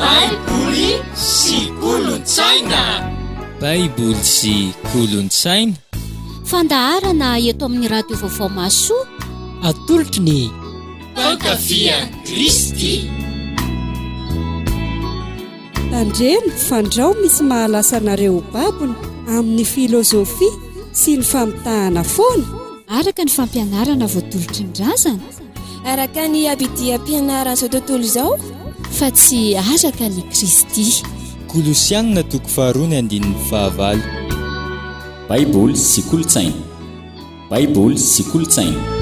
baiboly sy kolontsaina baiboly sy kolontsaina fandaharana eto amin'ny radio vaovao masoa atolotry ny fankafia kristy tandremo fandrao misy mahalasa anareo ho babony amin'ny filozofia sy ny famitahana foana araka ny fampianarana voatolotry ny razana Araka ny abidiam-pianaran'izao tontolo izao fa tsy araka ny Kristy. Kolosianina toko faharoa ny andininy fahavalo. Baiboly sy kolontsaina. Baiboly sy kolontsaina.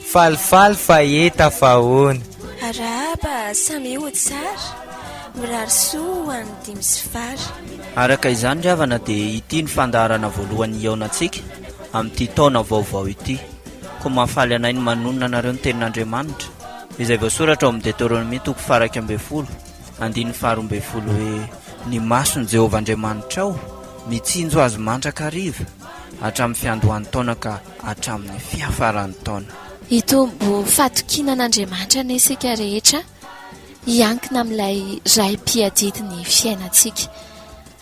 Falifaly fa hita fa ahoana. Arahaba samy ho tsara. Mirary soa ho an'ny dimy sy fara. Araka izany ry havana dia ity ny fandaharana voalohany hihaonantsika amin'ity taona vaovao ity. Koa mahafaly anay ny manonona anareo ny tenin'Andriamanitra izay voasoratra ao amin'ny Deteronomia toko faha iraika ambin'ny folo andininy faha roa ambin'ny folo hoe, Ny mason'i Jehovah Andriamanitrao mitsinjo azy mandrakariva hatramin'ny fiandohan'ny taona ka hatramin'ny fiafaran'ny taona. Hitombo fatokiana an'Andriamanitra anie isika rehetra, hiankina amin'ilay Ray mpiadidy ny fiainantsika.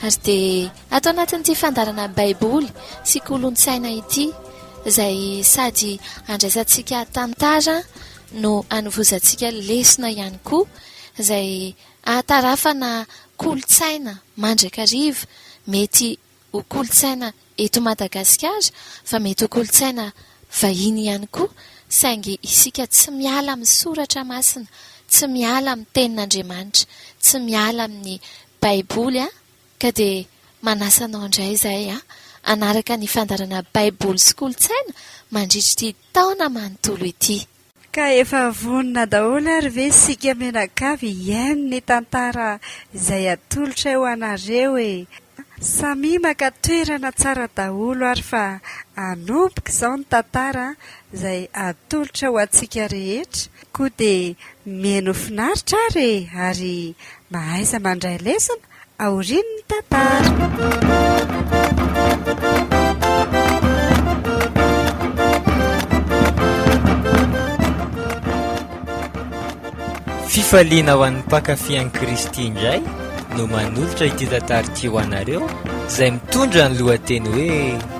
Ary dia ato anatin'ity fandaharana Baiboly sy kolontsaina ity, izay sady andraisantsika tantara no anovozantsika lesona ihany koa, izay ahatarafana kolontsaina mandrakariva mety ho kolontsaina eto Madagasikara fa mety ho kolontsaina vahiny ihany koa saingy isika tsy miala amin'ny soratra masina, tsy miala amin'ny tenin'Andriamanitra, tsy miala amin'ny baiboly an! ka dia manasa anao indray izahay an! hanaraka ny fandaharana baiboly sy kolontsaina mandritr'ity taona manontolo ity. Ka efa vonona daholo ary ve isika mianakavy hihaino ny tantara izay atolotray ho anareo e! Samia maka toerana tsara daholo ary fa hanomboka izao ny tantara izay atolotra ho antsika rehetra, koa dia mihaino finaritra ary e! Ary mahaiza mandray lesona? aorian'ny tantara. Fifaliana ho an'ny mpankafy an'i Kristy indray no manolotra ity tantara ity ho anareo izay mitondra ny lohateny hoe.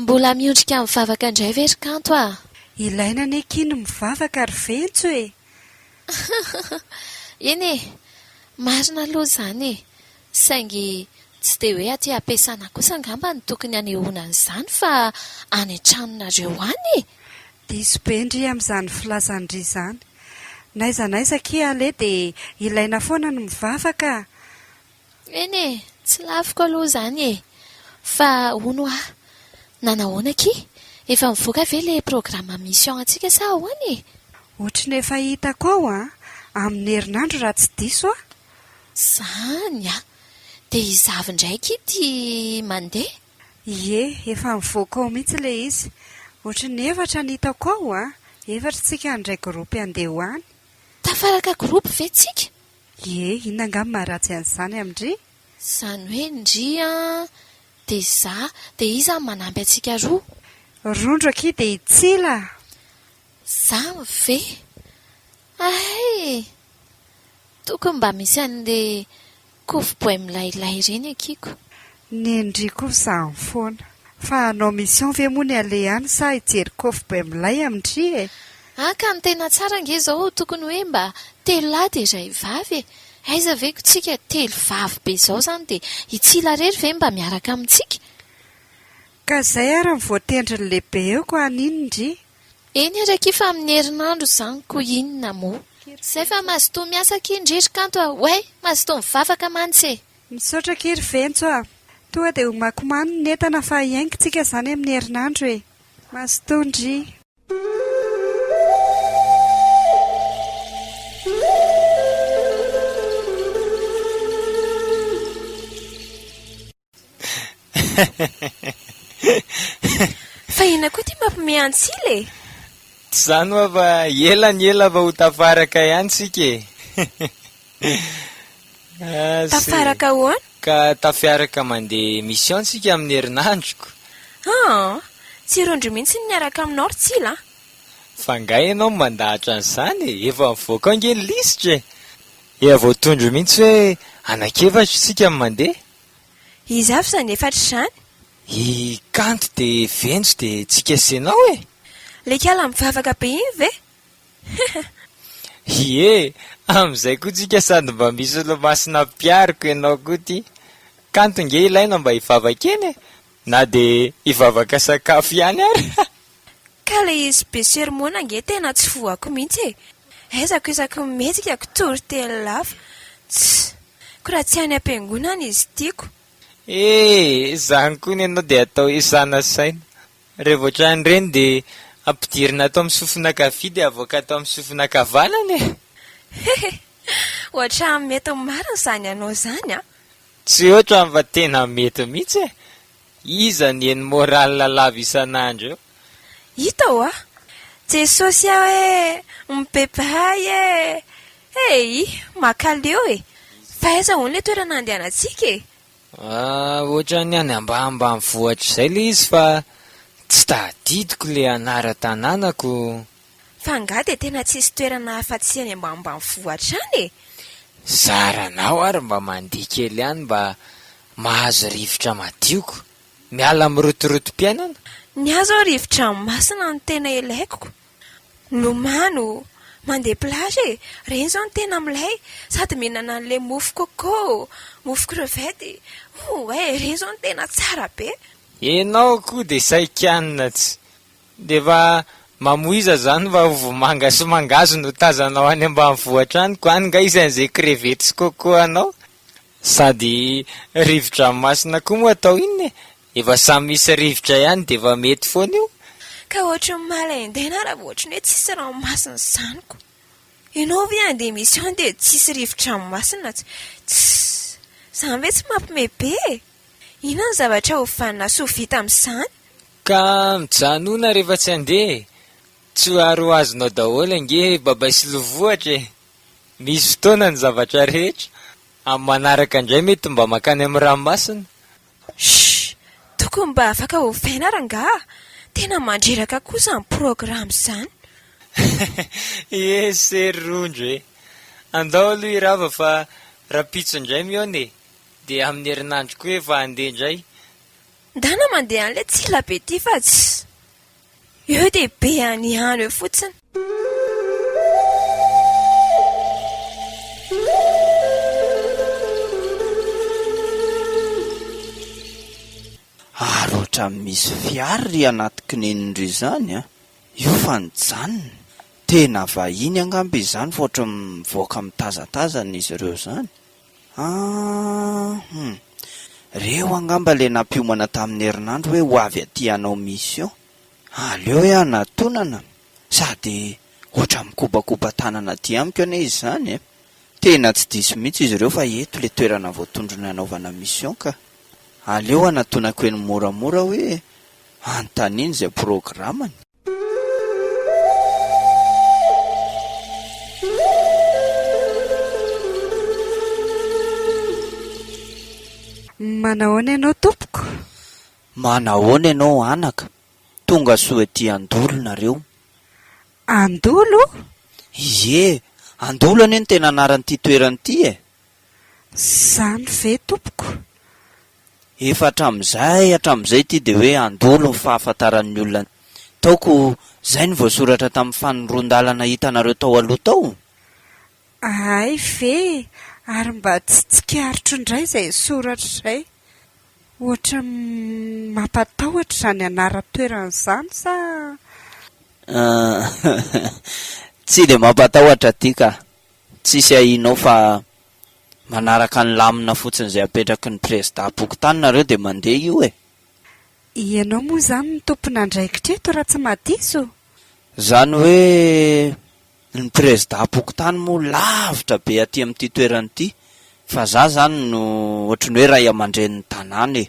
Mbola miondrika mivavaka indray ve ry Kanto a! Ilaina anie akia ny mivavaka ry Ventso e! Eny e! Marina aloha izany e! Saingy tsy dia hoe aty am-piasana kosa angamba no tokony hanehoana an'izany fa any an-tranonareo any e! Diso be ndry amin'izany filazan-dry izany. N'aiza n'aiza akia aleha dia ilaina foana ny mivavaka a! Eny e! tsy lafiko aloha izany e! fa hono hoa nanahoana akia? efa mivoaka ve ilay programme mission antsika sa ahoana e? Ohatry ny efa hitako ao an! amin'ny herinandro raha tsy diso an! Izany an! dia hizavy indray akia ity mandeha? Ie, efa mivoaka ao mihitsy ilay izy! ohatry ny efatra ny hitako ao an! efatra isika indray groupe handeha ho any! Tafaraka groupe ve tsika? Ie, inona angaha ny maharatsy an'izany amin-dry? Izany hoe ndry an, dia izaho, dia iza no manampy antsika roa? Rondro akia dia i Tsila! Izany ve? Hay! Tokony mba misy an'ilay kofo boay milailay ireny akiko. Ny ndry koa zany foana. Fa hanao mission ve moa ny aleha any sa hijery kôfy be milay amin ndry e? Ah ka ny tena tsara ange izao tokony hoe mba telo lahy dia iray vavy e! Aiza ve ko tsika telo vavy be izao izany dia i Tsila irery ve mba miaraka amintsika? Ka izay ary ny voatendrin'ny lehibe eo ko any iny ndry? Eny ary akia fa amin'ny herinandro izany ko inona moa? Izay fa mazotoa miasa akia ndry ry Kanto a! Oay! Mazotoa mivavaka mantsy e! Misaotra akia ry Ventso a! Toa dia homakomano ny entana fa hiaingo tsika izany amin'ny herinandro e! Mazotoa ndry. Fa inona koa ity mampime antsila e? Tsy izany hoa fa ela ny ela vao ho tafaraka ihany tsika e! Tafaraka ahoana? Ka tafiaraka mandeha mission tsika amin'ny herinandro. Aa! Tsy rondry mihitsy ny miaraka aminao ry Tsila a! Fa nga ianao mandahatra an'izany e! Efa mivoaka ao ange ny lisitra e! Efa voatondro mihitsy hoe anak'efatra isika no mandeha. Iza avy izany efatra izany? I Kanto dia Venjo dia tsika sy ianao e! Lekala mivavaka be iny ve? Ie, amin'izay koa tsika sady mba misy solomasina mpiaroko ianao koa ty. Kanto nge ilaina mba hivavaka eny e! Na dia hivavaka sakafo ihany ary. Ka le izy be sermona nge tena tsy voako mihitsy e! Aizako isaky ny mihetsika ko tory telo lafa. Tss! Ko raha tsy any am-piangonana izy tiako. Ee, izany koa ny anao dia atao hoe sanasaina. Raha vao trany ireny dia ampidirina ato amin'ny sofina ankavia dia avoaka ato amin'ny sofina ankavanana e! Hehe! Ohatra mety marina izany anao izany an! Tsy ohatran'ny fa tena mety mihitsy e! Iza ny eny morale lava isan'andro eo? Hita hoa! Jesosy aho e! Mibebahay e! Hey! Makaleo e! Fa aiza hono ilay toerana andehanantsika e? Ohatran'ny any ambanimbanivohitra izay ilay izy fa tsy tadidiko ilay anaran-tanànako. Fa angaha dia tena tsisy toerana afa-tsy any ambanimbanivohitra any e? Zaranao ary mba mandihy kely any mba mahazo rivotra madio ko. Miala amin'ny rotorotom-piainana. Ny ahy izao rivotra masina no tena ilaiko. Milomano o! Mandeha plage e! Ireny izao no tena milay! Sady mihinana an'ilay mofo coco, mofo crevette. Oue! Ireny izao no tena tsara be! Enao koa de saikianina tsy de efa mamoiza zany fa vomanga sy mangahazo no tazanao any ambanivohitra any ko any nga isan'izay crevette sy coco anao. Sady rivo-dranomasina koa moa atao inona e? Efa samy misy rivotra ihany dia efa mety foana io. Ka ohatry ny mahaleindena raha vao ohatry ny hoe tsisy ranomasina izany ko! Ianao ve handeha mission dia tsisy rivo-dranomasina tsy Tsssss! Izany ve tsy mampme be e! Inona ny zavatra ho vanona sy ho vita amin'izany? Ka mijanona rehefa tsy handeha e! Tsy ho ary ho azonao daholo ange Babay sy Lovohatra e! Misy fotoana ny zavatra rehetra. Amin'ny manaraka indray mety mba mankany amin'ny ranomasina. Shh! Tokony mba afaka ovaina rangaha a! Tena mandreraka kosa izany programme izany. Ié se ry Rondro e! Andao aloha hirava fa rahampitso indray mihaona e! Dia amin'ny herinandro koa efa handeha indray. Ndana mandeha an'ilay tsilabe ity fa tsy. Eo dia be any ihany eo fotsiny. Ary ohatran'ny misy fiara ry anaty kinenin'ireo izany an! Io fa nijanona. Tena vahiny angamba izany fa ohatran'ny mivoaka mitazatazana izy ireo izany. Ah hum. Reo angamba le nampiomana tamin'ny herinandro hoe ho avy aty hanao mission. Aleo hoe hanatonana sady ohatra mikopakopa tanana aty amiko anie izy zany e. Tena tsy diso mihitsy izy reo fa eto le toerana voatondrony hanaovana mission ka. Aleo hanatonako eny moramora hoe anontaniny zay programany. Manahoana ianao tompoko? Manahoana ianao anaka? Tonga soa ety Andolo nareo? Andolo? Ie, Andolo anie no tena anaran'ity toerana ity e! Zany ve tompoko? Efa hatramin'izay hatramin'izay ity dia hoe handolo ny fahafantaran'ny olona ny taoko izay no voasoratra tamin'ny fanondroan-dalana hitanareo tao aloha tao? Hay ve? Ary mba tsy tsikaritro indray izay soratra izay? Ohatran'ny mampatahotra izany anaran-toerana izany sa? Aah, tsy dia mampatahotra aty ka! Tsisy ahianao fa. Manaraka ny lamina fotsiny izay apetraky ny prezidà am-pokontany nareo dia mandeha io e! Ianao moa izany no tompon'andraikitra eto raha tsy madiso? Izany hoe ny prezidà am-pokontany moa lavitra be aty amin'ity toerana ity fa za izany no ohatry ny hoe ray aman-drenin'ny tanàna e!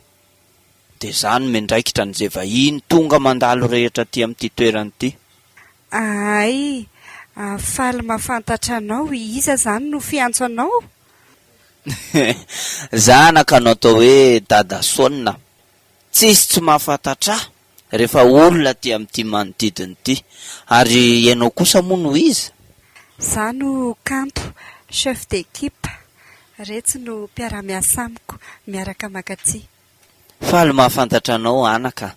Dia zany no miandraikitra ny ze vahiny tonga mandalo rehetra aty amin'ity toerana ity. Ahay! Aho faly mahafantatra anao, iza zany no fiantso anao? Zanaka no atao hoe Dada Sôna. Tsisy tsy mahafantatra ahy! Rehefa olona aty amin'ity manodidina ity. Ary ianao kosa moa no iza? Za no kanto, chef d'équipe. Retsy no mpiara-miasa amiko, miaraka mankatia. Faly mahafantatra anao anaka a!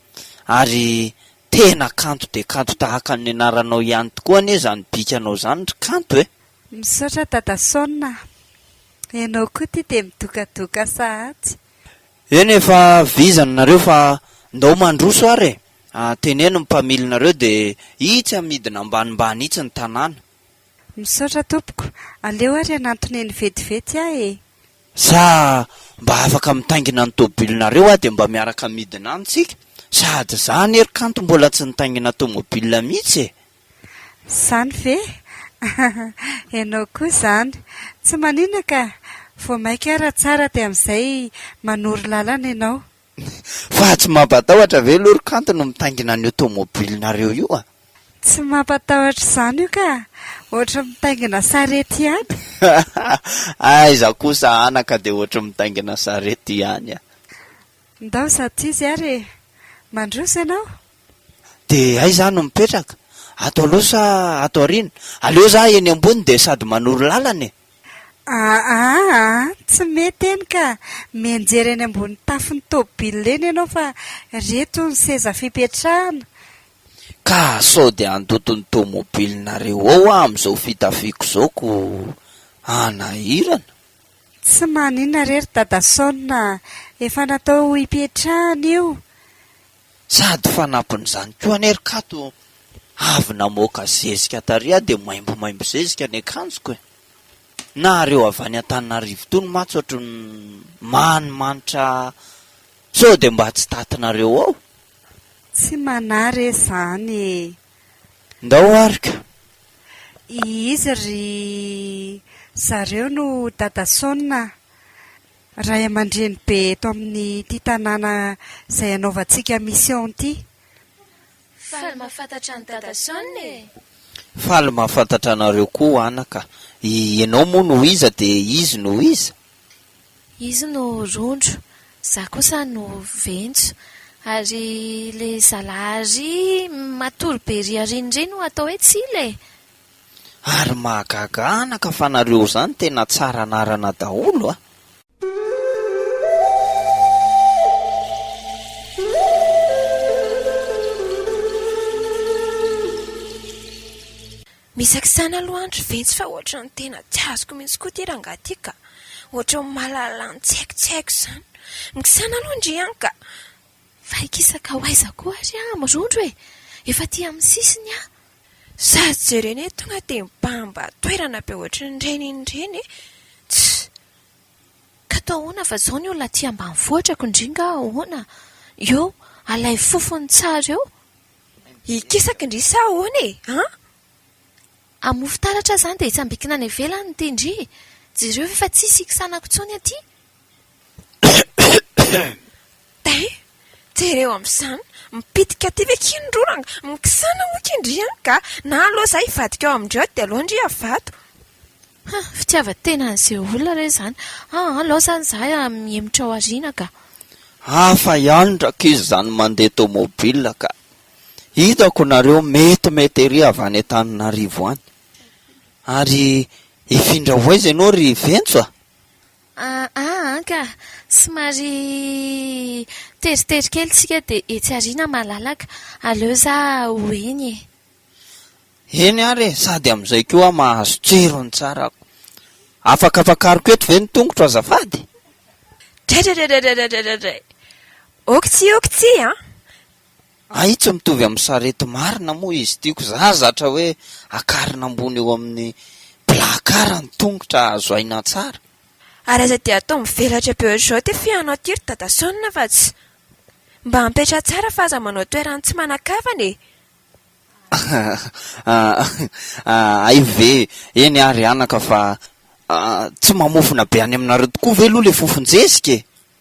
Ary tena kanto dia kanto tahaka ny anaranao ihany tokoa anie izany bikanao izany ry kanto e! Misaotra Dada Son a! Ianao koa ity dia midokadoka sahatsy. Eny efa vizana nareo fa ndao mandroso ary e! Ah teneno ny mpamily nareo de itsy amidina ambanimbany itsy ny tanàna. Misaotra tompoko, aleo ary hanantona eny vetivety aho e! Sa mba afaka mitaingina ny tobilinareo aho de mba miaraka midina any tsika? Sady za anie ry kanto mbola tsy nitaingina tomobile mitsy e! Zany ve? Enao koa zany. Tsy maninona ka. Vao maika ara tsara dia amizay manoro lalana enao. Fa tsy mampatahotra ve lory kanto no mitaingina an'io tomobilinareo io a? Tsy mampatahotra izany io ka. Ohatry mitaingina sarety ihany. Aiza kosa anaka dia ohatry mitaingina sarety ihany a. Ndao za tsy izy ary e. Mandroso ianao. dia aiza aho no mipetraka? Ato aloha sa ato aoriana? Aleo za eny ambony dia sady manoro lalana e! Aa aa tsy mety eny ka! Mianjera eny ambony tafon'ny tôbila eny ianao fa reto ny seza fipetrahana! Ka sao dia handoto ny tômôbilinareo ao aho amin'izao fitafiako izao ko hanahirana! Tsy maninona re ry Dadasaona a! Efa natao hipetrahana io! Sady fanampin'izany koa anie ry Kato avy namoaka zezika tariha dia maimbomaimbo zezika ny akanjoko e! Nahareo avy any Antananarivo tony mantsy ohatry ny manimanitra sao dia mba tsy tatinareo ao? Tsy manahy re zany e! Ndao ary ka! I izy ry zareo no Dada Son a! Ray aman-dreny be eto amin'ity tanàna izay anaovantsika mission ity. Faly mahafantatra an'i Dada Shawn e! Faly mahafantatra anareo koa anaka. Ianao moa no iza dia izy no iza? Izy no rondro, za kosa no ventso. Ary le zalahy aryy matory be riarin'ireny no atao hoe tsila e! Ary mahagaga anaka fa nareo zany tena tsara anarana daholo a! Misakisana aloha andry ventsy fa ohatran'ny tena tsy azoko mihitsy koa ity rangahy ity ka! Ohatran'ny mahalala ny tsy haiko tsy haiko izany! Mikisana aloha ndry an ka! Fa hikisaka ho aiza koa ary aho mirondro e! Efa aty amin'ny sisiny aho! Za jerena eto tonga dia mibahambà toerana be ohatry ny reny iny reny e! Tss! Ka atao ahoana fa izao ny olona aty ambanivohitra ko ndry nga ahoana? Eo, alaivo fofony tsara eo. Hikisaka ndry sa ahoana e? An! Hamofo taratra aho izany dia hitsambikina any ivelany ity ndry. Jereo fa efa tsisy hiksanako intsony aty. Dain, jereo amin'izany, mipitika aty ve k'io ny rora nga? Mikisana moa k'io ndry an ka! Na aloha izaho hivadika ao amin-dry ao dia aleo ndry havato. Hum, fitiavan-tena an'izay olona re izany. Aa, aleo izany izahay mihemotra ao aoriana ka! Hafa ihany rankizy izany mandeha tomobile ka! Hitako nareo metimety ery avy any Antananarivo any. Ary hifindra ho aiza ianao ry Ventso a? Aa an ka! somary teritery kely tsika dia etsy aoriana malalaka. Aleo za ho eny e! Eny ary e! sady amin'izay koa aho mahazo jiro ny tsarako. Afaka afakariko eto ve ny tongotro azafady? Draidraidraidraidraidraidraidray! Oksy oksy an! Hay tsy mitovy amin'ny sarety marina moa izy ity ko za zatra hoe akarina ambony eo amin'ny placard ny tongotra azo aina tsara. Ary aza dia atao mivelatra be ohatr'izao ty fihaonao ity ry Dadasaonina fa tsy. Mba apetraha tsara fa aza manao toeran'ny tsy manan-kavana e! Hay ve! Eny ary anaka fa tsy mamofona be any aminareo tokoa ve aloha ilay fofon-jezika e!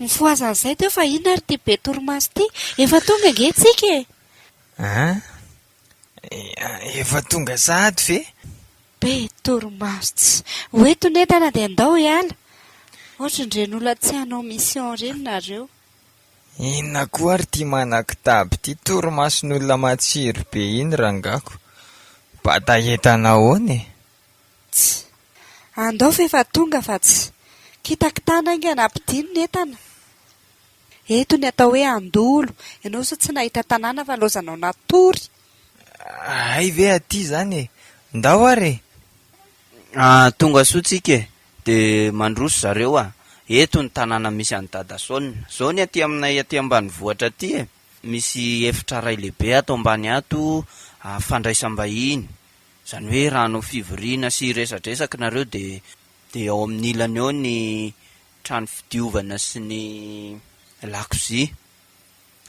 Mifohaza an'izay teo fa inona ary ity be torimaso ity? Efa tonga ange tsika e! An? Efa tonga sahady ve? Be torimaso ts. Ho eto ny entana dia ndao hiala. Ohatran'ireny olona tsy hanao mission ireny nareo. Inona koa ary ity manan-kitaby ity? Torimason'olona matsiro be iny rangako. Bata entana ahoana e? Ts. Andao f'efa tonga fa ts. Kitakitana haingana ampidino ny entana. Eto ny atao hoe andolo, ianao sa tsy nahita tanàna fa laozanao natory. Hay ve aty izany e! Ndao ary e! Ahh tongasoa tsika e! De mandroso zareo a! Eto ny tanàna misy an'i Dada Son. Zao ny aty aminay aty ambanivohitra aty e! Misy efitra iray lehibe ato ambany ato fandraisam-bahiny. Izany hoe raha hanao fivoriana sy hiresadresaka nareo dia dia ao amin'ny ilany ao ny trano fidiovana sy ny lakozia.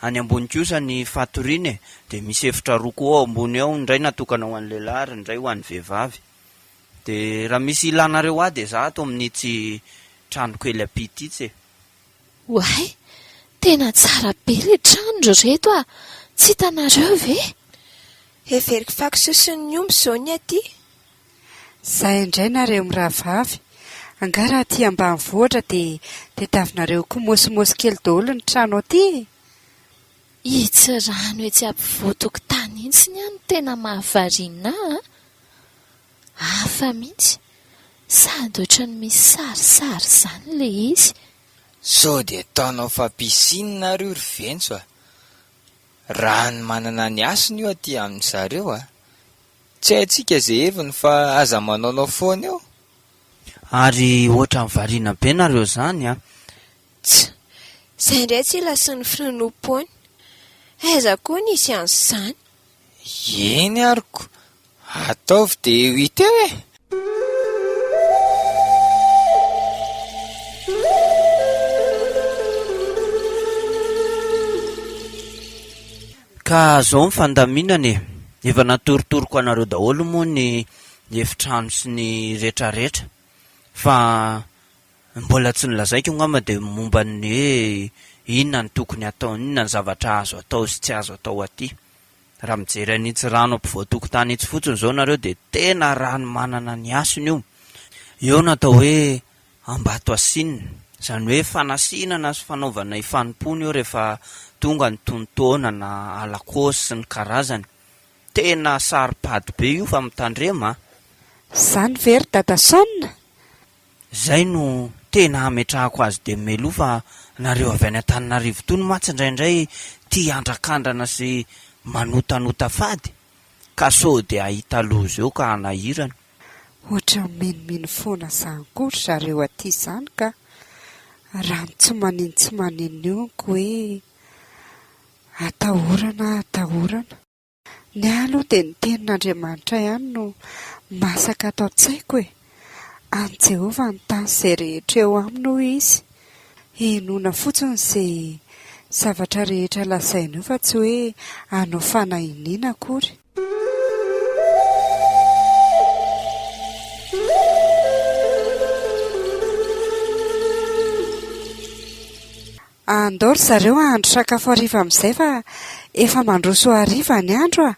Any ambony kosa ny fatoriana e, dia misy efitra roa koa ao ambony ao, ny iray natokana ho an'ny lehilahy ary ny iray ho an'ny vehivavy. Dia raha misy ilanareo ahy dia izaho ato amin'ity trano kely ampita ity e. Oay! Tena tsara be le trano ry reto a! Tsy hitanareo ve? Heveriko fako soson'ny omby izao ny aty. Zay indray nareo mirahavavy. Angaha raha aty ambanivohitra dia tadiavinareo kimosimosy kely daholo ny trano aty e! Itsy rano etsy ampovoan-tokotany itsy ny ahy no tena mahavariana ahy a! Hafa mihitsy, sady ohatran'ny misy sarisary izany ilay izy. Sao dia ataonao fa piscine ary io ry Venco a! Rano manana ny hasiny io aty amin'i zareo a! Tsy haintsika izay heviny fa aza manaonao foana eo! Ary ohatran'ny variana be nareo zany a! Tsa! Izay indray tsy ilasin'ny Frnupony! Aiza koa nisy an'izany! Eny aroko, ataovy de eo iteo e! Ka zao ny fandaminana e! Efa natorotoroko anareo daholo moa ny efitrano sy ny retraretra fa. Ny mbola tsy nolazaiko angamba dia ny momba ny hoe inona no tokony hatao, inona ny zavatra azo atao sy tsy azo atao aty. Raha mijery an'itsy rano ampovoan-tokotany itsy fotsiny izao nareo dia tena rano manana ny hasiny io. Eo no atao hoe Ambatoasinina, izany hoe fanasinana sy fanaovana ifanompoana eo rehefa tonga ny tonon-taona na alakôsy sy ny karazany. Tena saro-pady be io fa mitandrema a! Zany ve ry Dadason? Zay no tena hametrahako azy de meloa fa nareo avy any Antananarivo tony mantsy ndraindray tia andrakandrana sy manotanota fady ka sao de hahita loza eo ka hanahirana. Ohatran'ny minomino foana zany koa ry zareo aty zany ka! Raha ny tsy manin tsy manin io nko hoe atahorana atahorana. Ny ahy aloha dia ny tenin'Andriamanitra ihany no masaka ato an-tsaiko e! An'i Jehovah ny tany sy izay rehetra eo aminy hoy izy. Henoina fotsiny izay zavatra rehetra lazainy io fa tsy hoe hanao fanahiniana akory. Andao ry zareo hahandro sakafo hariva amin'izay fa efa mandroso hariva ny andro a!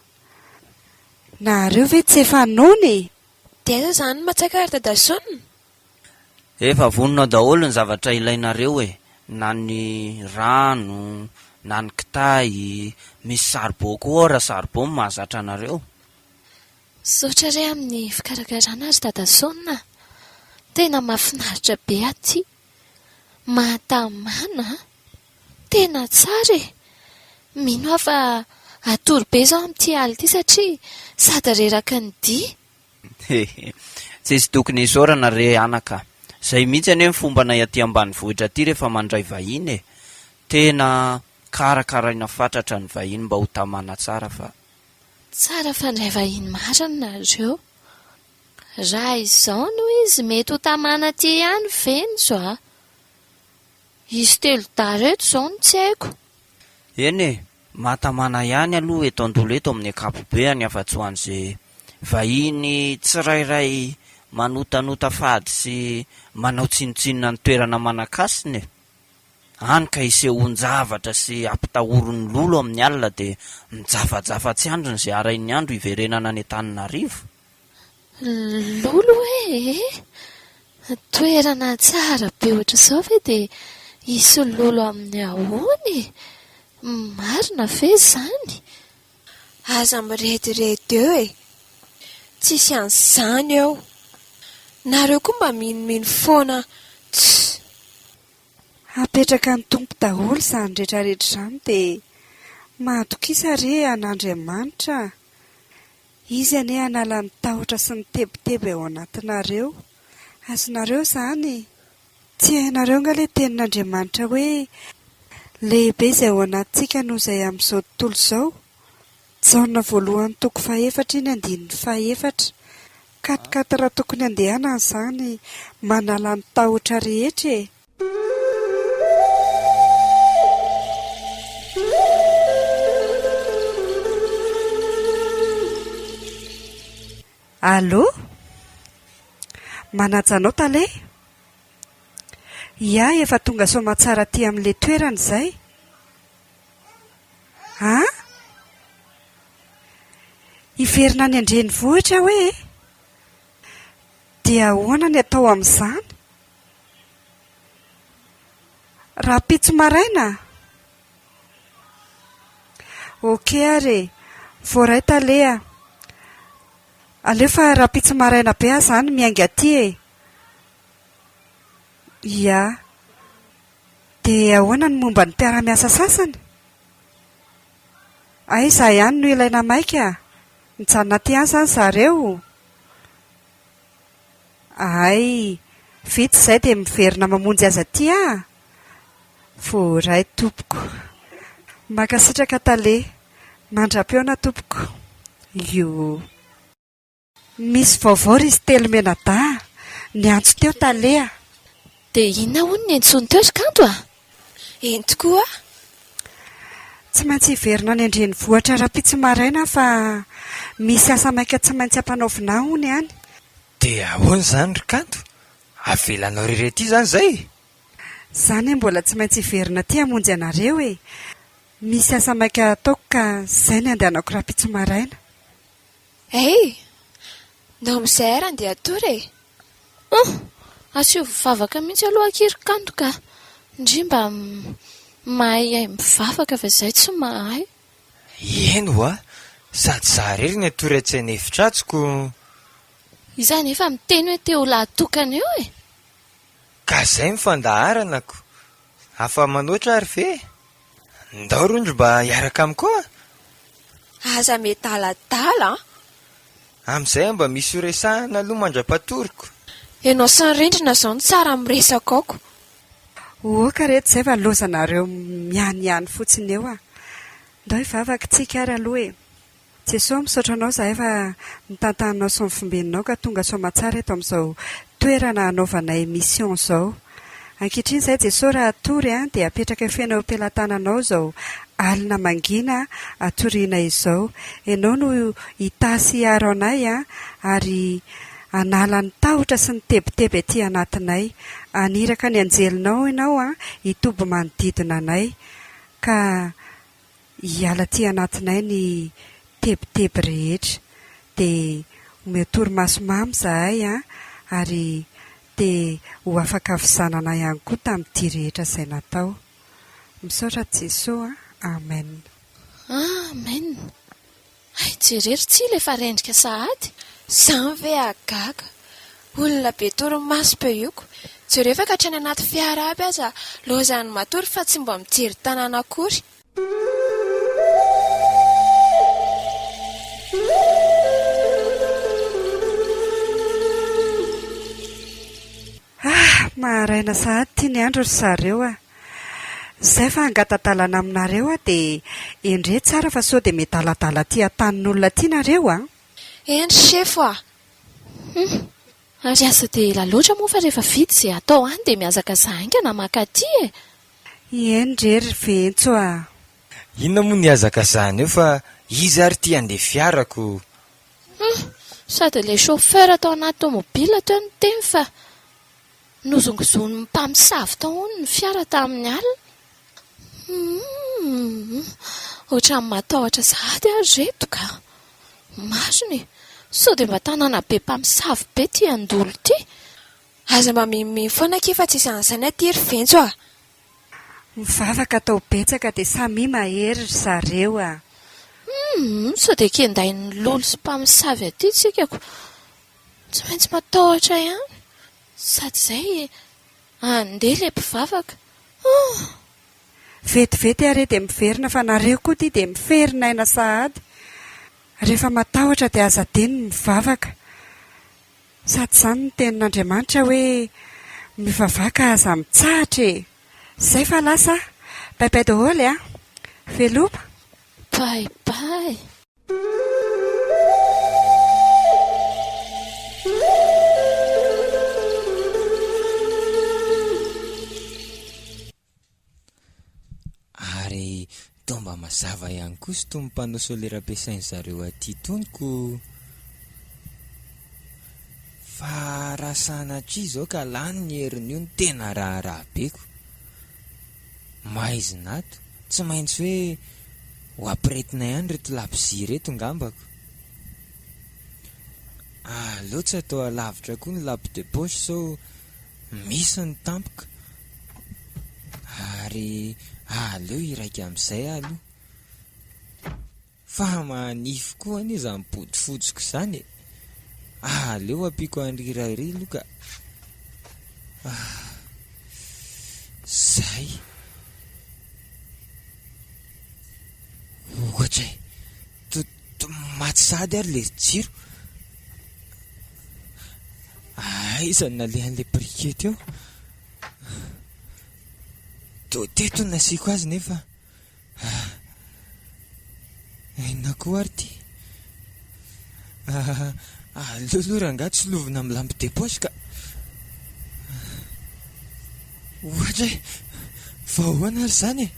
Nahareo ve tsy efa noana e! Dia aiza izany ny matsaka ry Dadasoa? Efa vonona daholo ny zavatra ilainareo e! Na ny rano, na ny kitay, misy saribao koa ao raha saribao no mahazatra anareo. Misaotra re amin'ny fikarakarana ry Dadasoa a! Tena mahafinaritra be aty. Mahatamana an! Tena tsara e! Mino aho fa hatory be izao amin'ity alina ity satria sady reraky ny dihy. He he, tsy sy tokony isaorana re anaka a! Izay mihitsy anie ny fombanay aty ambanivohitra aty rehefa mandray vahiny e! Tena karakaraina fatratra ny vahiny mba ho tamana tsara fa. Tsara fandray vahiny marina nareo. Raha izao no izy mety ho tamana aty ihany ve ny zo a? Hisy telo dahy reto izao no tsy haiko. Eny e, mahatamana ihany aloha eto Andolo eto amin'ny ankapobeany afa-tsy ho an'izay vahiny tsirairay manotanota fady sy manao tsinontsinona ny toerana manan-kasina e. Any ka isehoan-javatra sy ampitahorin'ny lolo amin'ny alina dia mijafajafa tsy andriny izay harain'ny andro hiverenana any Antananarivo. Lolo hoe eh! Toerana tsara be ohatr'izao ve dia hisy lolo amin'ny ahoana e? Marina ve izany? Aza mirediredy eo e! Tsisy an'izany eo! Nareo koa mba minomino foana tss! Hapetraka ny Tompo daholo izany retraretra izany dia mahatokisa re an'Andriamanitra a! Izy anie hanala ny tahotra sy ny tebiteby ao anatinareo. Azonareo izany? Tsy hainareo angaha ilay tenin'Andriamanitra hoe, Lehibe izay ao anatintsika noho izay amin'izao tontolo izao? Jaona voalohany toko fahefatra iny andininy fahefatra. Katikaty raha tokony handehanana izany manala ny tahotra rehetra e! Allo? Manaja anao tale? Ia efa tonga soamantsara aty amin'ilay toerana izay? An? Hiverina any an-drenivohitra aho e! Dia ahoana ny atao amin'izany? Rahampitso maraina? Ok ary e! Voaray tale a! Aleo fa rahampitso maraina be aho izany miainga aty e! Ya! Dia ahoana ny momba ny mpiara-miasa sasany? Hay izaho ihany no ilaina maika? Mijanona aty ihany izany zareo? Hay, vita izay dia miverina mamonjy azy aty aa! Voaray tompoko. Mankasitraka Tale. Mandra-pihaona tompoko. Yohoo. Misy vaovao ry Sitelo Menadaha, niantso teo Tale a! Dia inona hono ny antsoiny teo ry Kanto a? Eny tokoa. Tsy maintsy hiverina any an-drenivohitra rahampitso maraina fa misy asa maika tsy maintsy ampanaovina hono any. Dia ahoana izany ry Kanto? Avelanao irery aty izany izay? Izaho anie mbola tsy maintsy hiverina aty hamonjy anareo e! Misy asa maika hataoko ka izay ny andehanako rahampitso maraina. Hey! Nao mizay ary andeha hatory e! Ohh! Asehovo vavaka mihitsy aloha Ankiro kanto ka! Ndry mba mahaihay mivavaka fa izay tsy mahay! Eny ho'a! Sady za irery no hatory atsy an'efitra atsy ko! Iza anefa miteny hoe te ho lahatokana eo e! Ka izay no fandaharana ko! Afa-manoatra ary ve? Ndao rondry mba hiaraka amiko koa a! Aza miadaladala an! Amin'izay aho mba misy ho resahana aloha mandra-patoroko. Ianao sy ny rindrina izao no tsara amin'ny resaka aoko. Ohoka re tsy zay va lozanareo mianiany fotsiny eo a! Ndao hivavaka isika ary aloha e! Jesoa misaotra anao zahay fa nitantananao sy nifombeninao ka tonga soamatsara eto amin'izao toerana hanaovanay mission zao. Ankehitriny zahay Jesoa raha hatory an dia apetraka feno eo am-pelatananao izao alina mangina hatoriana izao. Ianao no hitaha sy hiaro anay an ary hanala ny tahotra sy ny tebiteby aty anatinay. Haniraka ny anjelinao ianao an hitoby manodidina anay ka hiala aty anatinay ny tebiteby rehetra dia omeo torimaso mamy zahay an ary dia ho afaka fizanana ihany koa tamin'ity rehetra izay natao. Misaotra Jesoa an! Amen. Amen! Hay jerero tsy ilay efa rendrika sahady. Zany ve hagaga. Olona be torimaso peu iko. Jereo efa ka hatrany anaty fiara aby aza lozan'ny matory fa tsy mba mijery tanana akory. Ah! Maharaina sahady ity ny andro ry zareo a! Izay fa hangatadalana aminareo aho dia endrey tsara fa sao dia miadaladala aty an-tanin'olona aty nareo a! Eny sefo a! Hum! Ary aza dia ela loatra moa fa rehefa vita izay atao any dia mihazakazaka haingana maka aty e! Ieny re ry Ventso a! Inona moa ny hazakazahana eo fa iza ary ity handeha fiarako? Humm! Sady ilay chauffeur tao anaty tomobila teo niteny fa nozongozon'ny mpamosavy tao hono ny fiara tamin'ny alina. Humm! Ohatran'ny matahotra sahady aho ry reto ka! Marina e! Sao dia mba tanàna be mpamosavy be ity Andolo ity? Aza mba mimimino foana akia fa tsisy an'izany aty ry Venco a! Mivavaka atao betsaka dia samia mahery ry zareo a! Humm! Sao dia kendain'ny lolo sy mpamosavy aty tsika ko! Tsy maintsy matahotra ihany! Sady izay andeha ilay mpivavaka! Humm! Vetivety are dia miverina fa nareo koa ty dia miferin aina sahady! Rehefa matahotra dia aza adino ny mivavaka! Sady izany ny tenin'Andriamanitra hoe, Mivavaha ka aza mitsahatra e! Izay fa lasa aho. Bye bye daholo e! Veloma! Bye bye! Ary toa mba mazava ihany koa sy toy ny panneau solaire ampiasain'ny zareo aty tony ko! Fa raha sanatria izao ka lany ny herin'io no tena raharaha be ko! Maizina ato, tsy maintsy hoe ho ampiretina ihany ireto labozia ireto ngamba ko! Aleo tsy atao alavitra koa ny lampe de poche sao Misy ny tampoka ary aleo iraika amin'izay aloha fa manify koa anie izany bodofotsiko izany e! aleo ampiako an'ry iray iry aloha ka ah! zay ohatra e! Maty sahady ary ilay jiro. Aiza no nalehan'ilay briquet teo? Toa teto no nasiako azy nefa. Inona koa ary ity? Aleo aloha rangahy tsy lovina amin'ny lampe de poche ka. Ohatra e! Fa ahoana ary izany e!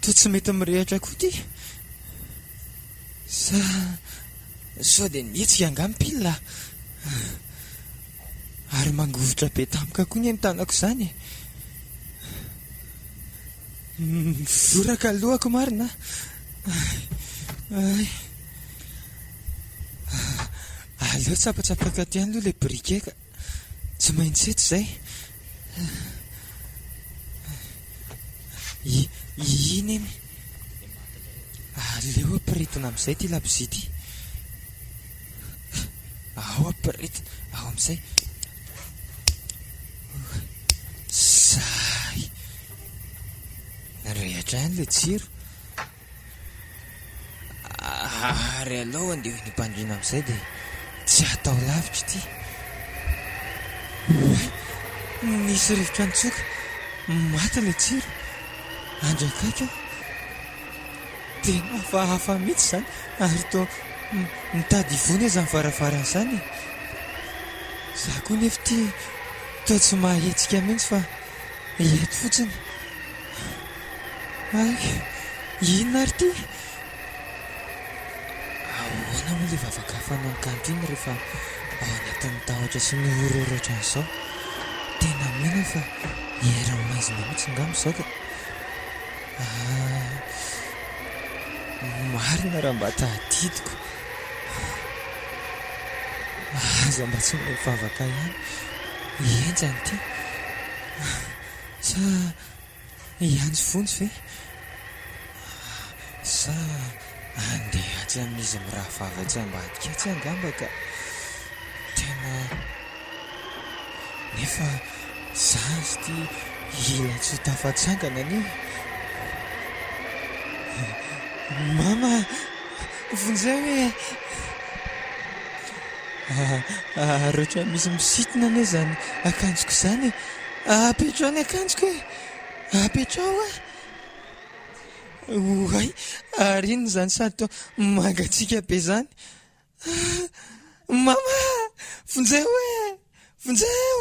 Toa tsy mety mirehitra koa ity. Sa sao dia nihetsika angaha ny pile a! Ary mangovitra be tampoka koa ny eny tanako izany e! Mivoraka ny lohako marina a! Aleo tsapatsapako aty ihany aloha ilay briquet ka! Tsy maintsy eto izay. Iny iny. Aleo ampirehetina amin'izay ity labozia ity. Ao ampirehetina, ao amin'izay. Zay. Narehitra ihany ilay jiro. Ary alao andeha hoy ny mpandriana amin'izay dia tsy hatao lavitra ity. Oay! Nisy rivotra nitsoka, maty ilay jiro. Andry akaiky aho. Tena hafahafa mihitsy izany ary toa mitady hivona izany varavarana izany e! Izaho koa nefa ity toa tsy mahahetsika mihitsy fa. Ireto fotsiny. Ary inona ary ity? Ahoana moa ilay vavaka fanao cantine rehefa ao anatin'ny tahotra sy ny horreur ohatran'izao? Tena mino aho fa eran'ny maizina mihitsy ngamba izao ka. Ah, marina raha mba tadidiko. Aza mba tsy mbola hivavaka ihany i henjana ity. Sa i Anja Vonjy ve? Sa handeha atsy amin'izy mirahavavy atsy ambadika atsy angamba ka? Tena nefa sazy ity hilatsoa tafatsangana anie. Mama! Vonjeo ee! Ahh reo trano misy misitona anie zany akanjoko zany e! Apetraho ny akanjoko e! Apetraho a! Oay! Ary inona zany sary toa mangatsiaka be zany? Ahh! Mama! Vonjeo ee! Vonjeo!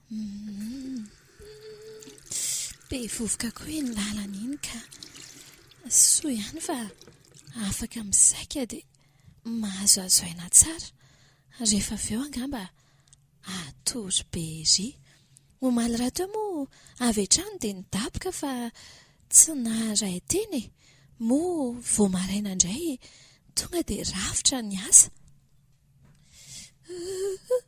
Be vovoka koa iny lalana iny ka. Soa ihany fa afaka misaika dia mahazoazo aina tsara. Rehefa avy eo angamba hatory be ery. Omaly rahateo moa avy hatrany dia nidaboka fa tsy naharay teny e. Moa vao maraina indray tonga dia rafitra ny asa.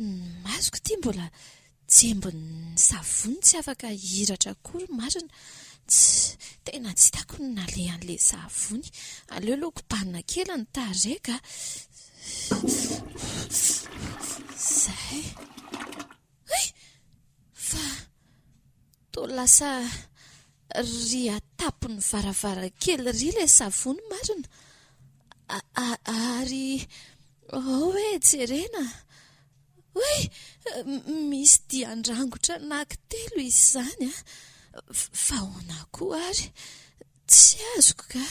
Ny masoko ity mbola jembin'ny savony tsy afaka hihiratra akory marina, tsy, tena tsy hitako ny nalehan'ilay savony, aleo aloha kobanina kely ny tarehiko a, izay, hay! fa Toa lasa ry atapony varavarankely ry ilay savony marina a ary hoe jerena hoe misy dian-drangotra anankitelo izy izany a! fa ahoana koa ary tsy azoko ka!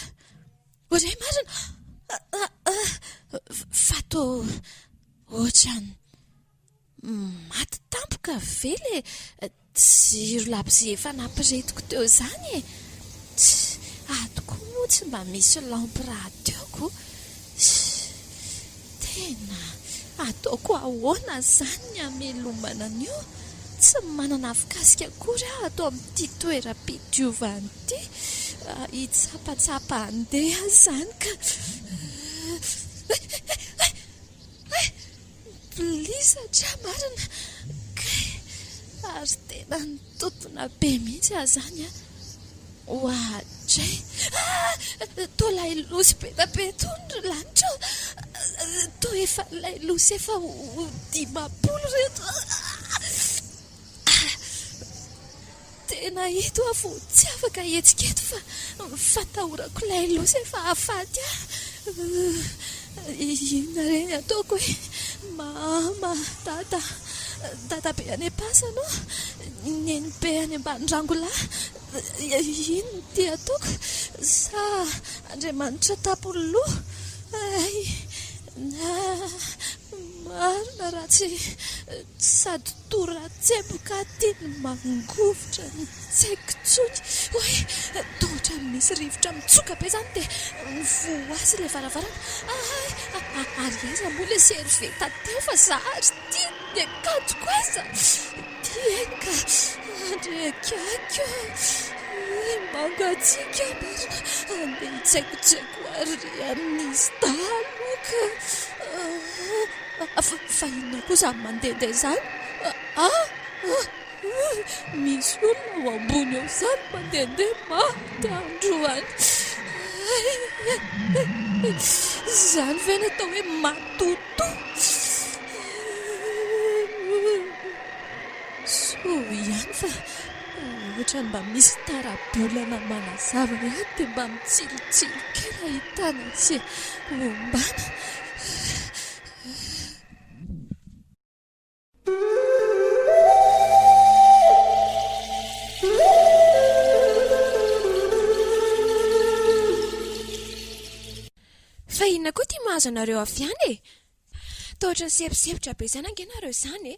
Re marina a! fa toa ohatran'ny. Maty tampoka ve le jiro labozia efa nampiritiko teo zany e! Tchh! Ato koa moa tsy mba misy lampy radioko. Tchh! Tena! Ataoko ahoana zany ny hamelomana an'io? Tsy manana afokasoka akory aho ato amin'ity toeram-pidiovana ity. Hitsapatsapa handeha aho zany ka. Hay! Hay! Hay! Hay! Milisatra marina kay ary tena nitontona be mihitsy aho zany a! ohatray ah! toa ilay losy be da be tony ry lanitra ô! toa efa ilay losy efa ho dimampolo reto ah! Tena eto aho vao tsy afaka hihetsika eto fa fatahorako ilay loza efa hahafaty ahy. Inona re ny ataoko e? Mama, Dada, Dadabe any am-pasana ô, Nenibe any ambanirangolahy, inona ity ataoko? Sa Andriamanitra tapony loha? Hay! Marina raha tsy. Sady toa tsepoka ity ny mangovitra ny tsaiko tsony hoe toa ohatran'ny misy rivotra mitsoka be izany dia mivohazy ilay varavarana. Ahay! Ary aiza moa ilay servieta teo fa za ary ity ny akanjoko aiza? Ity e ka! Handrehitra aiko ry mangatsiaka marina handeha hitsaikontsaiko ary ry amin'izy dahalo ka! Fa inona koa izany mandehandeha izany? Ah! Misy olona ao ambony eo izany mandehandeha maty androany. Izany ve no atao hoe matotoa? Soa ihany fa ohatrany mba misy tara-bolana manazava ihany dia mba mitsilo-tsilo kely ahitana an'ise ombana. Fa inona koa ity mahazo anareo avy any e? Toa ohatry ny semposempotra be izany ange nareo izany e!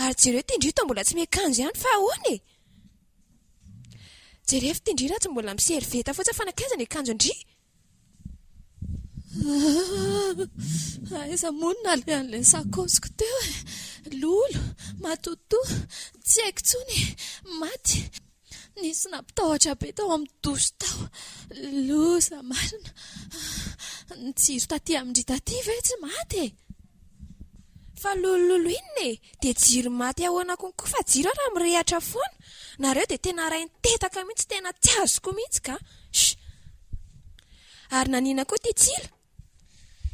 Ary jereo ity ndry toa mbola tsy miakanjo ihany fa ahoana e? Jerevo ity ndry raha tsy mbola mi-serviette fotsiny fa nankaiza ny akanjondry? Aiza moa no nalehan'ilay sakaosiko teo e? Lolo, matotoa, tsy haiko intsony e! Maty! Nisy nampitahotra be tao amin'ny douche tao. Loza marina! Ny jiro taty amin-dry Daty ve tsy maty e? Fa lolololo inona e! Dia jiro maty ahoana konko fa jiro ara mirehatra foana! Nareo dia tena rain-tetaka mihitsy tena tsy azoko mihitsy ka! Sh! Ary naniana koa ity tsilo?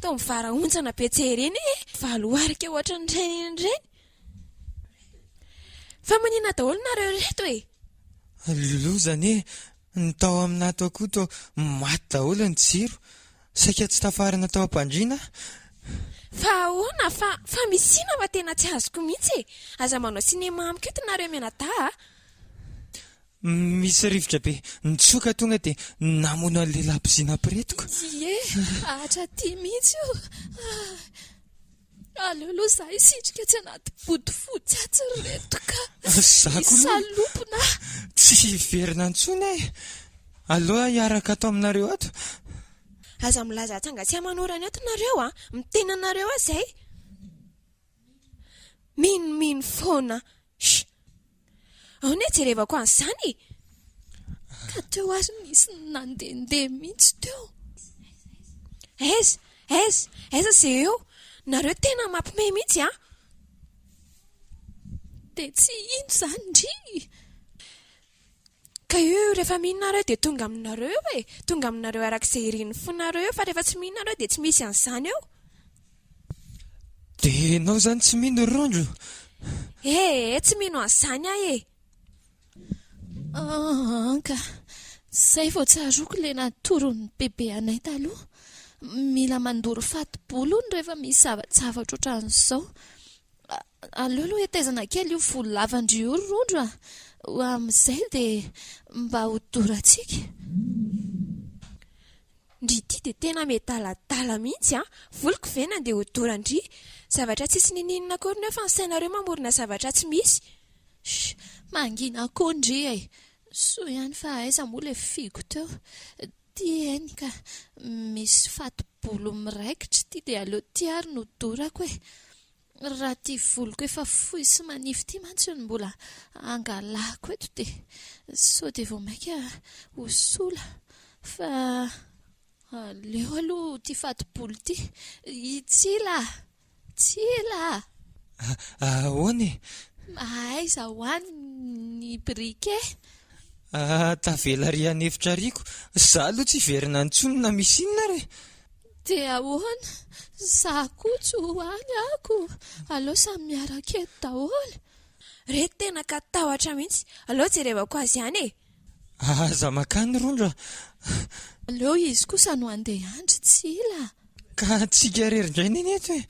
Toa mivarahontsana be tsy hay ireny ee! Valo arika ohatran'ireny ireny! Fa manina daholo nareo reto e! Ry Loulou izany e, ny tao amin'ato akoto maty daholo ny jiro, saika tsy tafarina tao am-pandriana aho. Fa ahoana fa fa misy sina fa tena tsy azoko mihitsy e! Aza manao cinéma amiko eto nareo mianadahy a! Misy rivotra be nitsoka tonga dia namono an'ilay labozia nampiretiko. Ie, hatratỳ mihitsy io. Aleo aloha za hisitrika atsy anaty bodofotsy atsy ry reto ka. Za koa aloha. Salopina. Tsy hiverina intsony aho e. Aleo aho hiaraka ato aminareo ato. Aza milaza atsy hangatsiahy manorany ato nareo a. Miteny anareo aho zay. Minomino foana. Shh. Aona e, jerevako an'izany e! Ka teo ary nisy nandehandeha mihitsy teo. Aiza, aiza, aiza izay eo? Nareo tena mampime mihitsy an! Dia tsy ino izany ndry! Ka io rehefa mino nareo dia tonga aminareo eo e! Tonga aminareo araka izay irin'ny fonareo eo fa rehefa tsy mino nareo dia tsy misy an'izany eo. Dia ianao izany tsy mino ry Rondro? Ee, tsy mino an'izany aho e! An ka! Izay vao tsaroako ilay natoron'ny bebe anay taloha. Mila mandoro fatibolo hono rehefa misy zava-javatra ohatran'izao. Aleo aloha hetezana kely io volo lavan-dry io ry Rondro a! Amin'izay dia mba hodorantsika. Ndry ity dia tena miadaladala mihitsy an! Voliko ve ny andeha hodoran-dry zavatra tsisy ninianina akory nefa ny sainareo mamorona zavatra tsy misy? Sh! Mangina koa ndry e! Soa ihany fa aiza moa ilay figo teo. Ty eny ka, misy fato-bolo miraikitra ity dia aleo ty ary no dorako e! Raha ity voloko efa fohy sy manify ity mantsy no mbola angalako eto dia sao dia vao mainka ho sola fa aleo aloha ity fatibolo ity. I Tsila! Tsila! Ahoana e? Mahaiza ho any ny briquet? Tavela ary hanefitra ariko. Za aloha tsy hiverina intsony na misy inona ary e! Dia ahoana? Za koa tsy ho any ako. Aleo samy miaraka eto daholo. Re tena ka tahotra mihitsy. Aleo jerevako azy ihany e. Aza makany Rondra. Aleo izy kosa no handeha andry Tsila. Ka antsika irery indray neny eto e.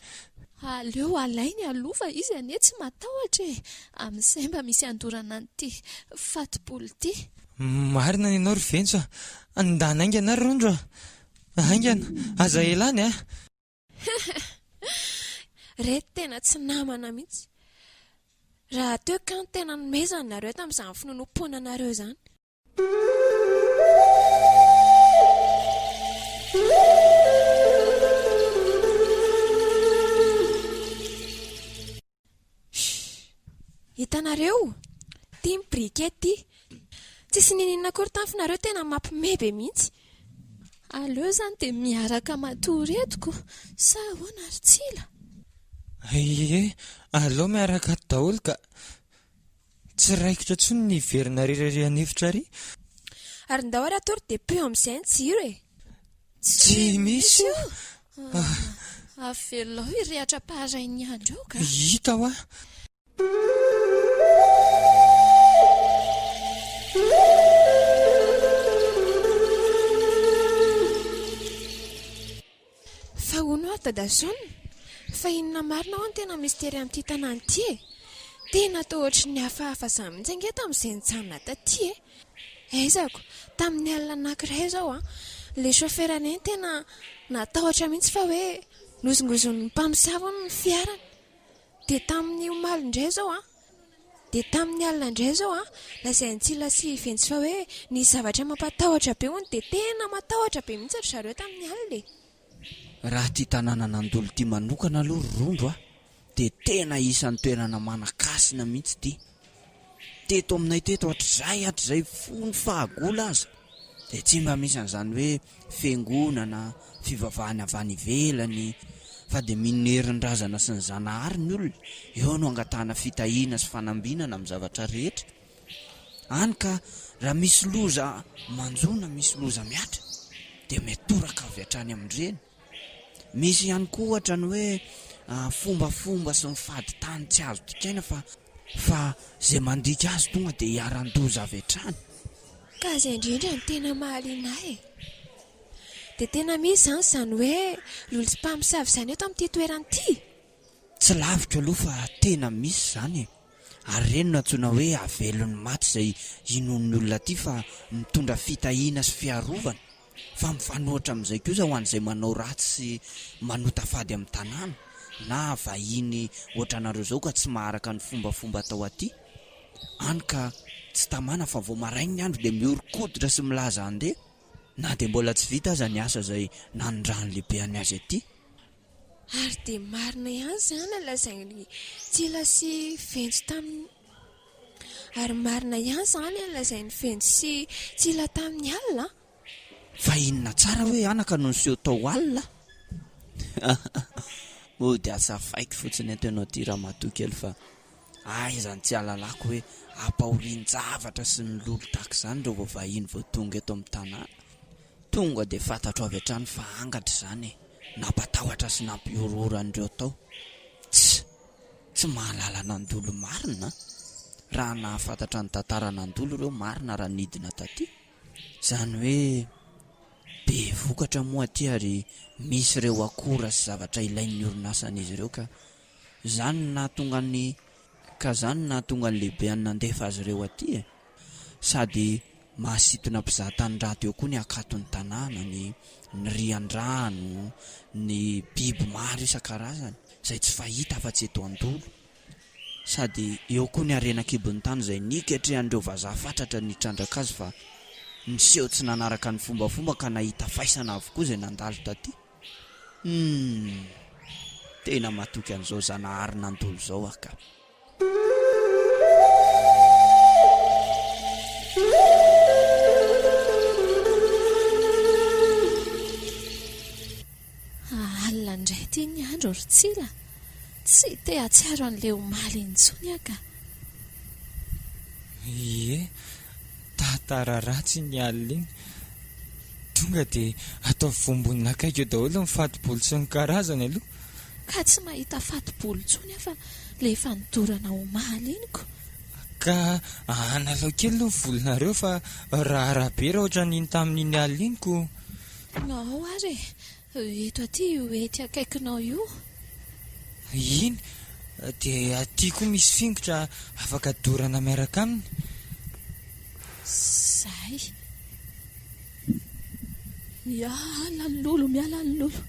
Aleo alainy aloha fa izy anie tsy matahotra e. Amin'izay mba misy andorana an'ity fatibolo ity. Marina ny anao ry Ventsy a. Ndana haingana ary Rondra. Haingana, aza ela any a! Reto tena tsy namana mihitsy. Rahateo kah tena nomezany nareo tamin'izany finonompoananareo izany. Hitanareo? Ity ny briquet ity. Tsisy nininona akory tany finareo tena mapme be mihitsy. Aleo izany dia miaraka matory eto ko sa ahoana ry Tsila? Ie, aleo miaraka ato daholo ka. Tsy raikitra tsony ny hiverina ary irery hanefitra ary. Ary ndao ary atory dia pio amin'izay ny jiro e! Tsy misy io! Avelao hirehatra am-paharain'ny andro eo ka! Hita hoa! Fa hono hoa Dadason, fa inona marina hoa no tena mistery amin'ity tanàna ity e? Tena toa ohatry ny hafahafa izany mihitsy ange tamin'izay nijanona taty e! Aizako, tamin'ny alina anankiray izao, ilay chauffeur indray no tena natahotra mihitsy fa hoe nozongozon'ny mpamosavy hono ny fiarany. Dia tamin'ny omaly indray izao, Dia tamin'ny alina indray izao, lazain'i Tsila sy Ventsiva hoe nisy zavatra mampatahotra be hono, dia tena matahotra be mihitsy ry zareo tamin'ny alina e! Raha ity tanànan'Andolo ity manokana aloha ry Rombo a, dia tena isan'ny toerana manan-kasina mihitsy ity. Teto aminay teto hatrizay hatrizay fony fahagola aza, Dia tsy mba misy an'izany hoe fiangonana, fivavahana avy any ivelany, fa dia mino ny herin-drazana sy ny Zanahary ny olona, eo no angatahana fitahiana sy fanambinana amin'ny zavatra rehetra, hany ka raha misy loza manjo na misy loza mihatra dia mitoraka avy hatrany amin-dreny. Misy ihany koa ohatra ny hoe fombafomba sy ny fadin-tany tsy azo dikaina fa fa izay mandika azy tonga dia hiaran-doza avy hatrany. Ka izay indrindra no tena mahaliana ahy e! Dia tena misy izany izany hoe lolompamosavy izany eto amin'ity toerana ity? Tsy lavitra aloha fa tena misy izany e! ary ireny no antsoina hoe havelon'ny maty izay inoan'ny olona aty fa mitondra fitahiana sy fiarovana fa mifanohitra amin'izay kosa ho an'izay manao ratsy sy manota fady amin'ny tanàna na vahiny ohatranareo izao ka tsy maharaka ny fombafomba atao aty any ka tsy tamana fa vao maraina ny andro dia mihoron-koditra sy milaza handeha na dia mbola tsy vita aza ny asa izay nanindran'ny lehibeany azy aty. Ary dia marina ihany izany lazain'i Tsila sy Venjo tamin'ny Ary marina ihany izany lazain'i Venjo sy Tsila tamin'ny alina an! Fa inona tsara hoe anaka no niseho tao alina? Mody azavaiko fotsiny eto ianao ity ramatoa kely fa aiza no tsy hahalalako hoe ampahorian-javatra sy ny lolo tahaka izany ireo vao vahiny vao tonga eto amin'ny tanàna. Tonga dia fantatro avy hatrany fa angatra izany e! Nampatahotra sy nampihorohoro an'ireo tao. Tss! Tsy mahalala nandolo marina an! Raha nahafantatra ny tantara nandolo ireo marina raha nidina taty. Izany hoe be vokatra moa aty ary misy ireo akora sy zavatra ilain'ny orinasan'izy ireo ka. Izany no nahatonga an'i Ka izany no nahatonga an'i Lehibeany nandefa azy ireo aty e! Sady mahasintona mpizahatany raha teo koa ny hakaton'ny tanàna, ny ny riandrano, ny biby maro isan-karazany izay tsy fahita afa-tsy eto Andolo. Sady eo koa ny harena an-kibon'ny tany izay niketrehan'ireo vazaha fatratra nitrandraka azy fa niseho tsy nanaraka ny fombafomba ka nahita faisana avokoa izay nandalo taty. Humm. Tena matoky an'izao Zanahary nandolo izao aho ka. Alina indray ity ny andro ry Tsila. Tsy te hahatsiaro an'ilay omaly intsony aho ka. Ie. Tantara ratsy iny alina iny. Tonga dia ataovy voambonin'akaiky eo daholo ny fatobolo sy ny karazany aloha. Ka tsy mahita fatobolo intsony aho fa ilay efa nidorana omaly iny ko. Ka analao kely aloha ny volonareo fa raharaha be raha ohatran'iny tamin'iny alina iny ko. Noo ary e! Eto aty io hety akaikinao io. Iny, dia aty koa misy fingotra afaka dorana miaraka aminy. Zay. Miala ny lolo, miala ny lolo.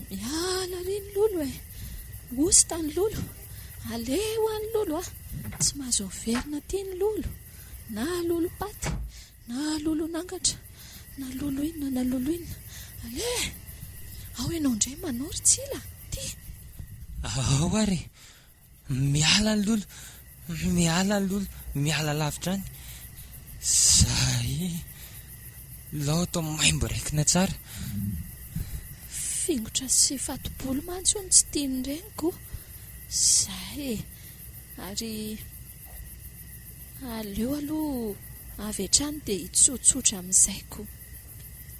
Miala ry ny lolo e. Hosta ny lolo. Aleho any lolo a. Tsy mahazo averina aty ny lolo. Na lolo-paty. Na lolon'angatra na loloina na loloina Aleha! Ao ianao indray Manao ry Tsila Ty! Ao ary e! Miala any lolo Miala any lolo Miala lavitra any Zay Loto maimbo raikina tsara Fingotra sy fatobolo mantsy hono tsy tian'ny reniko Zay e! Ary Aleo aloha avy hatrany dia hitsotsotra amin'izay koa.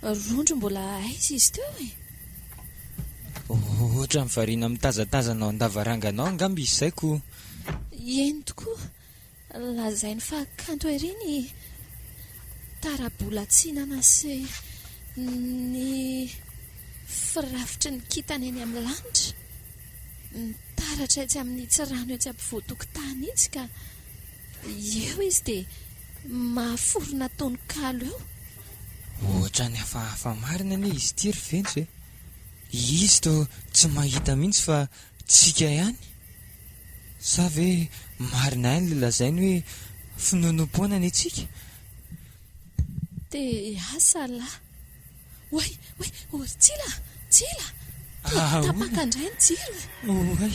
Rondro mbola aiza izy teo e? Ohatran'ny variana mitazatazana ao an-davarangana ao angamba izy izay koa. Eny tokoa, lazainy fa kanto ery ny tarabolan-tsinana sy ny firafitry ny kintana eny amin'ny lanitra. Nitaratra etsy amin'itsy rano etsy ampovoan-tokotany itsy ka eo izy dia mahaforona tononkalo eo. Ohatran'ny hafahafa marina anie izy ity ry Fentso e! Izy toa tsy mahita mihitsy fa tsika ihany? Sa ve marina ihany ilay lazainy hoe finoanoam-poana ny antsika? DH, Salah. Oay! Oay! O ry Tsila a! Tsila! Toa tapaka indray ny jiro e! Oay!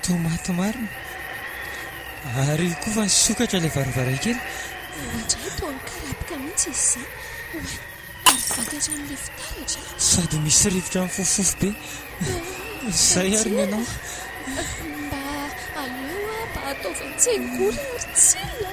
Toa maty marina! Ary koa fa nisokatra ilay varavarankely! Indraindray toa nikarapoka mihitsy izy izany! Oay! Ary vaky hatramin'ilay fitaratra e! Sady misy rivotra mifofofofo be! Izay ary ny anao! Mba aleo aho mba ataovy an-tsengory ry Tsila!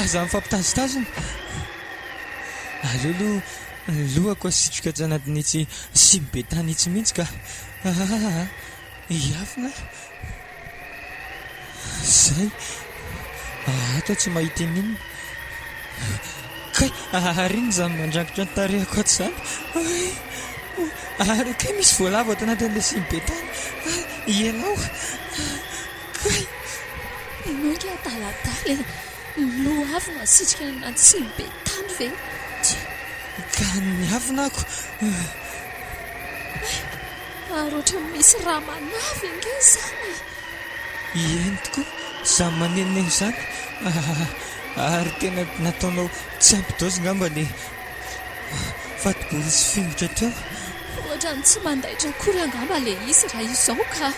Aza mifampitazotazona. Aleo aloha ny lohako asitriko etsy anatin'itsy simy be tany itsy mihitsy ka. Ahahaha. Hiafina aho. Izay. Ato tsy mahita ininona. Kay, ary inona izany mandrangitra ny tarehiko ato izany? Ay! Ary kay misy voalavo ato anatin'ilay simy be tany. Ay! Ianao. Kay! Ianao ry adaladala e! Ny loha avy no asitrika ny rantsian'ny be tany ve? Tsia! Ka ny miavona ako eh! Hay! Ary ohatran'ny misy rà manavy ange izany e! Ieny tokoa izany manenoneno izany ah! Ary tena nataonao tsy ampy dose angamba ny fatibory sy fingotra teo? Ohatran'ny tsy mandaitra akory angamba ilay izy raha izao ka!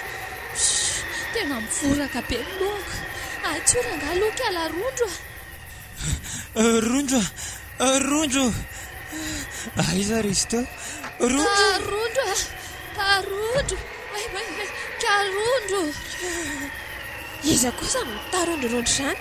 Pshh! Tena mivoraka be ny lohako. Hay tsory angaha aloha kiala Rondro a! Rondro a! Rondro! Aiza ry izy teo? Rondro! Ah Rondro a! Rondro! Way way way! Ka Rondro! Iza kosa no mitarondrorondro izany?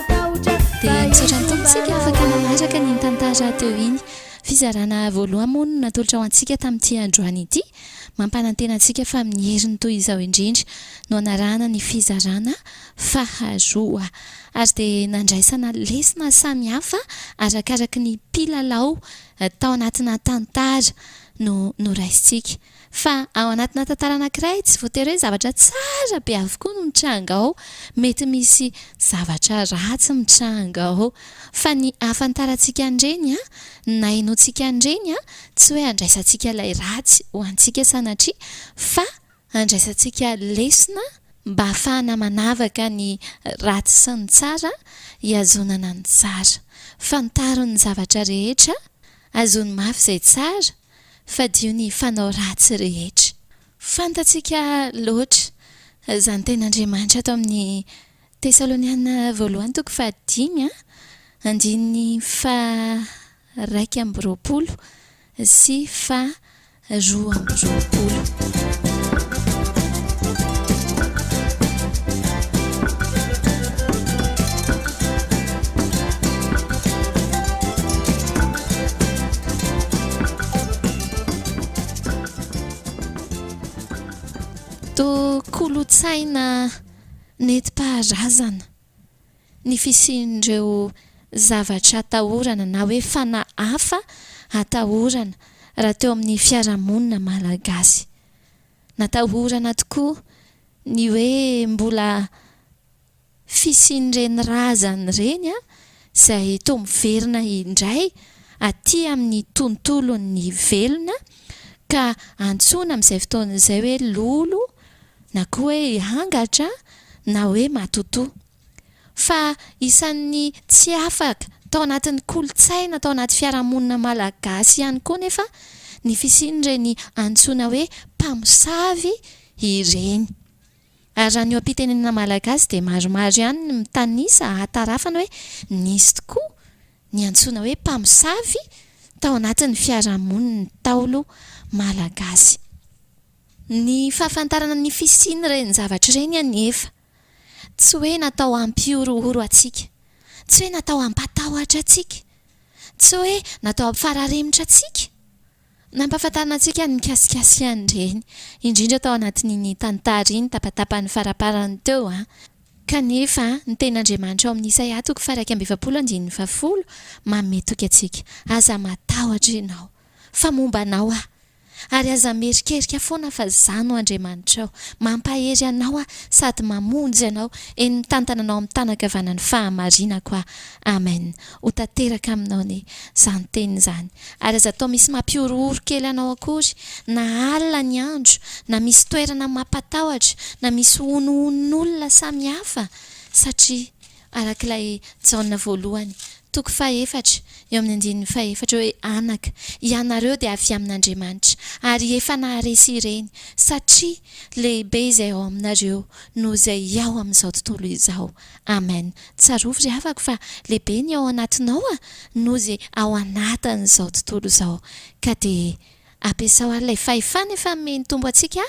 Dia misaotra ny Tompo isika afaka nanaraka an'iny tantara teo iny. Fizarana voaloha moa no natolotra ho antsika tamin'ity androany ity. Mampanantena antsika fa amin'ny heriny toy izao indrindra no hanarahana ny fizarana faharoa. Ary dia nandraisana lesona samy hafa arakaraky ny mpilalao tao anatina tantara no noraisintsika. Fa ao anatina tantara anankiray, tsy voatery hoe zavatra tsara be avokoa no mitranga ao. Mety misy zavatra ratsy mitranga ao. Fa ny ahafantarantsika an'ireny, na ahenoantsika an'ireny, tsy hoe handraisantsika ilay ratsy ho antsika sanatria, fa handraisantsika lesona mba hahafahana manavaka ny ratsy sy ny tsara, hihazonana ny tsara. Fantaro ny zavatra rehetra, hazono mafy izay tsara, Fadio ny fanao ratsy rehetra. Fantatsika loatra izany tenin'Andriamanitra ato amin'ny Tesaloniana voalohany toko fahadimy andininy faharaika amby roapolo sy faharoa amby roapolo. Toa kolontsaina nentim-paharazana ny fisian'ireo zavatra atahorana na hoe fanahy hafa atahorana raha teo amin'ny fiarahamonina malagasy. Natahorana tokoa ny hoe mbola fisian'ireny razana ireny izay toa miverina indray aty amin'ny tontolon'ny velona ka antsoina amin'izay fotoana izay hoe lolo na koa hoe hangatra na hoe matotoa. Fa isan'ny tsy afaka tao anatin'ny kolontsaina tao anaty fiarahamonina malagasy ihany koa nefa ny fisian'ireny antsoina hoe mpamosavy ireny. Ary raha ny eo am-pitenenana malagasy dia maromaro ihany ny mitanisa ahatarafana hoe nisy tokoa ny antsoina hoe mpamosavy tao anatin'ny fiarahamonin'ny Ntaolo malagasy. Ny fahafantarana ny fisian'ireny zavatra ireny anefa tsy hoe natao hampihorohoro antsika, tsy hoe natao hampatahotra antsika, tsy hoe natao hampifararemotra antsika, Nampahafantarina antsika ny mikasika sy an'ireny, indrindra tao anatin'iny tantara iny tapatapany faraparany teo an. Kanefa, ny tenin'Andriamanitra ao amin'ny Isaia toko faha-iraika amby efapolo andininy fahafolo, manome toky antsika, Aza matahotra ianao, fa momba anao Aho. Ary aza mierikerika foana fa Izaho no Andriamanitrao. Mampahery anao Aho sady mamonjy anao, eny mitantana anao amin'ny tàna ankavanan'ny fahamarinako Aho. Amen. Ho tanteraka aminao ny izany teny izany. Ary aza atao misy mampihorohoro kely anao akory, na alina ny andro, na misy toerana mampatahotra, na misy honohononolona samy hafa, satria araka ilay Jaona voalohany, toko fahefatra, eo amin'ny andininy fahefatra hoe, Anaka, ianareo dia avy amin'Andriamanitra, ary efa naharesy ireny, satria lehibe izay ao aminareo noho izay ao amin'izao tontolo izao. Amen tsarovy ry havako fa lehibe ny ao anatinao a noho ze ao anatin'izao tontolo izao ka de ampiasao ary lay fahefana efa nomen'ny Tompo antsika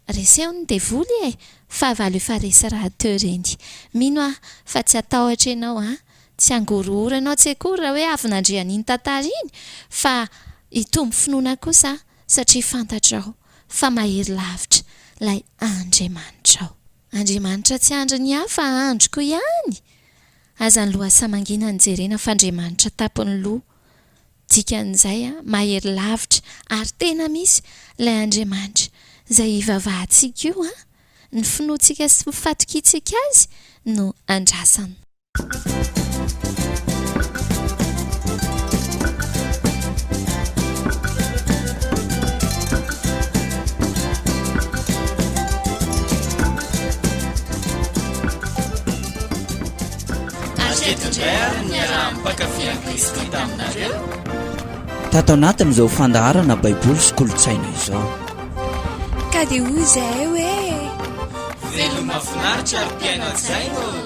a reseho ny devoly e fahavalo efa resy rahateo ireny mino aho fa tsy hatahotra ianao a tsy hangorohoro anao tsy akory raha hoe avy nandre an'iny tantara iny fa hitombo finoana kosa aho satria fantatrao fa mahery lavitra lay Andriamanitrao. Andriamanitra tsy andry ny hafa androko ihany! Aza ny lohasaha mangina no jerena fa Andriamanitra tapony loha. Dikan'izay a, mahery lavitra ary tena misy ilay Andriamanitra izay ivavahantsika io a! Ny finoantsika sy ny fatokiantsika Azy no andrasana. Tato anatin' izao fandaharana baiboly sy kolontsaina izao. Ka dia hoy izahay hoe. Velona mahafinaritra ary mpiaina-tsaina ô.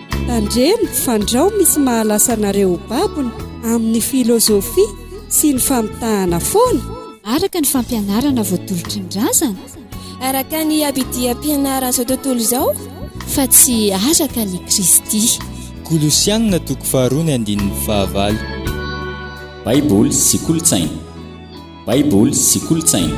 Tandremo fa ndrao misy mahalasa anareo ho babony amin'ny filozofia sy ny famitahana foana. Araka ny fampianarana voatolotry ny razana. Araka ny abidiam-pianaran'izao tontolo izao. Fa tsy araka an'i Kristy. Kolosianina toko faharoa ny andininy fahavalo. Baiboly sy kolontsaina. Baiboly sy kolontsaina.